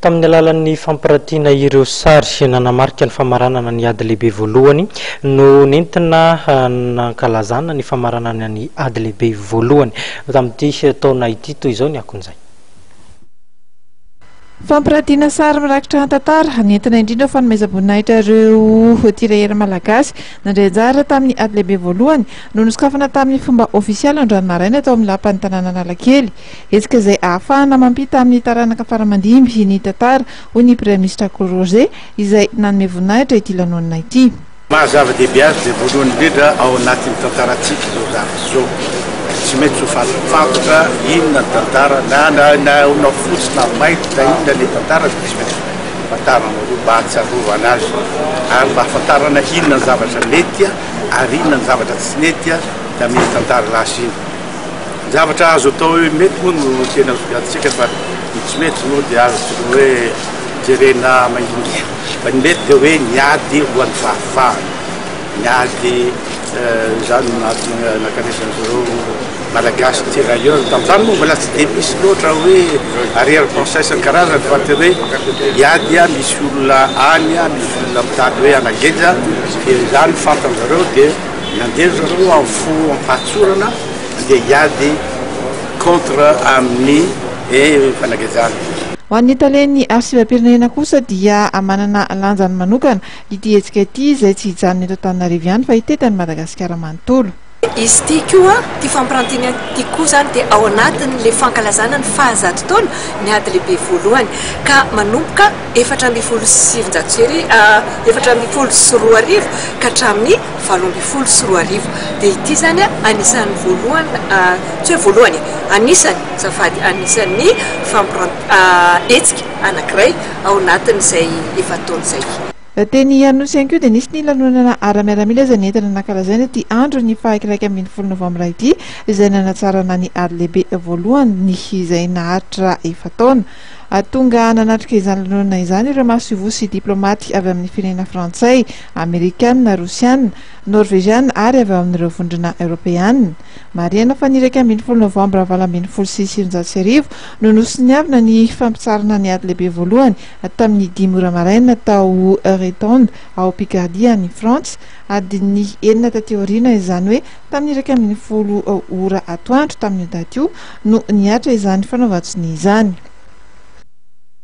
Tamin'ny alalan'ny fampiratiana ireo sary nanamarika ny famaranana ny Ady Lehibe Voalohany no nentina nankalazana ny famaranana ny Ady Lehibe Voalohany tamin'ity taona ity. Toy izao ny akon'izay. Fampiratiana sary mirakitra hantantara nentina indrindra fanomezam-boninahitra ireo tirailleurs malagasy nandray anjara tamin'ny Ady Lehibe Voalohany no nosokafana tamin'ny fomba ofisialy androany maraina tao amin'ny Lapan'ny tanàna Analakely. Hetsika izay hahafahana mampita amin'ny taranaka faramandimby ny tantara, hoy ny Praiminisitra Akoly Roger, izay nanome voninahitra ity lanonana ity. Maha zava-dehibe azy dia voalohany indrindra ao anatin'ny tantarantsika izao zavatra izao. Tsy maintsy ho fantatra inona ny tantara, na na na na fotsy na mainty na inona ilay tantara dia tsy maintsy fantarina aloha mba hahatsiarovana azy ary mba hahafantarana inona ny zavatra nety ary inona ny zavatra tsy nety tamin'iny tantara lasa iny. Ny zavatra azo atao hoe mety moa no tena sokajintsika fa ny tsy mety moa dia azo tokony hoe jerena maindomainty. Fa ny mety dia hoe ny ady ho an'ny fahafahana, ny ady izany no nahatonga nankany an'izareo Malagasy tirailleurs. Tamin'izany moa mbola tsy dia misy loatra hoe arrière pensée isan-karazany fa tena hoe hiady misy olona any, misy olona mitady hoe hanageja dia izany fantany zareo dia. Nandeha ry zareo amin'ny fo am-pahatsorana handeha hiady contre amin'ny fanagejana. Ho an'ny talen'ny Arsivam-pirenena kosa dia manana lanjany manokana ity hetsika ity izay tsy hijanona eto Antananarivo ihany fa hitety an'i Madagasikara manontolo. Izy ity koa, ity fampirantiana ity koa izany dia ao anatin'ilay fankalazana ny fahazato taona ny ady lehibe voalohany ka manomboka efatra ambin'ny folo sy sivinjato sy arivo, efatra ambin'ny folo sy roa arivo ka hatramin'ny valo ambin'ny folo sy roa arivo. Dia ity izany anisan'ny voalohany, tsy hoe voalohany e, anisany, azafady, anisan'ny fampirantiana, hetsika anankiray ao anatin'izay efa-taona izay. Teny Anosy ihany koa dia nisy ny lanonana ara-miaramila izay nentina nankalazaina ity andron'ny faha iraika ambin'ny folo novambra ity izay nanatsarana ny ady lehibe voalohany izay naharitra efa-taona. Hahatonga nanatrika izany lanonana izany ireo masoivoho sy diplaomaty avy amin'ny firenena frantsay, amerikana, rosiana, norveziana ary avy ao amin'ireo vondrona eoropeana. Marihana fa ny iraika ambin'ny folo novambra valo ambin'ny folo sy sivinjato sy arivo no nosoniavina ny fampitsarana ny ady lehibe voalohany tamin'ny dimy ora maraina tao Euretonde ao Picardie any Frantsa, adin'ny enina taty aoriana izany hoe Tamin'ny iraika ambin'ny folo ora atoandro tamin'io daty io no nihatra izany fanaovan-tsonia izany.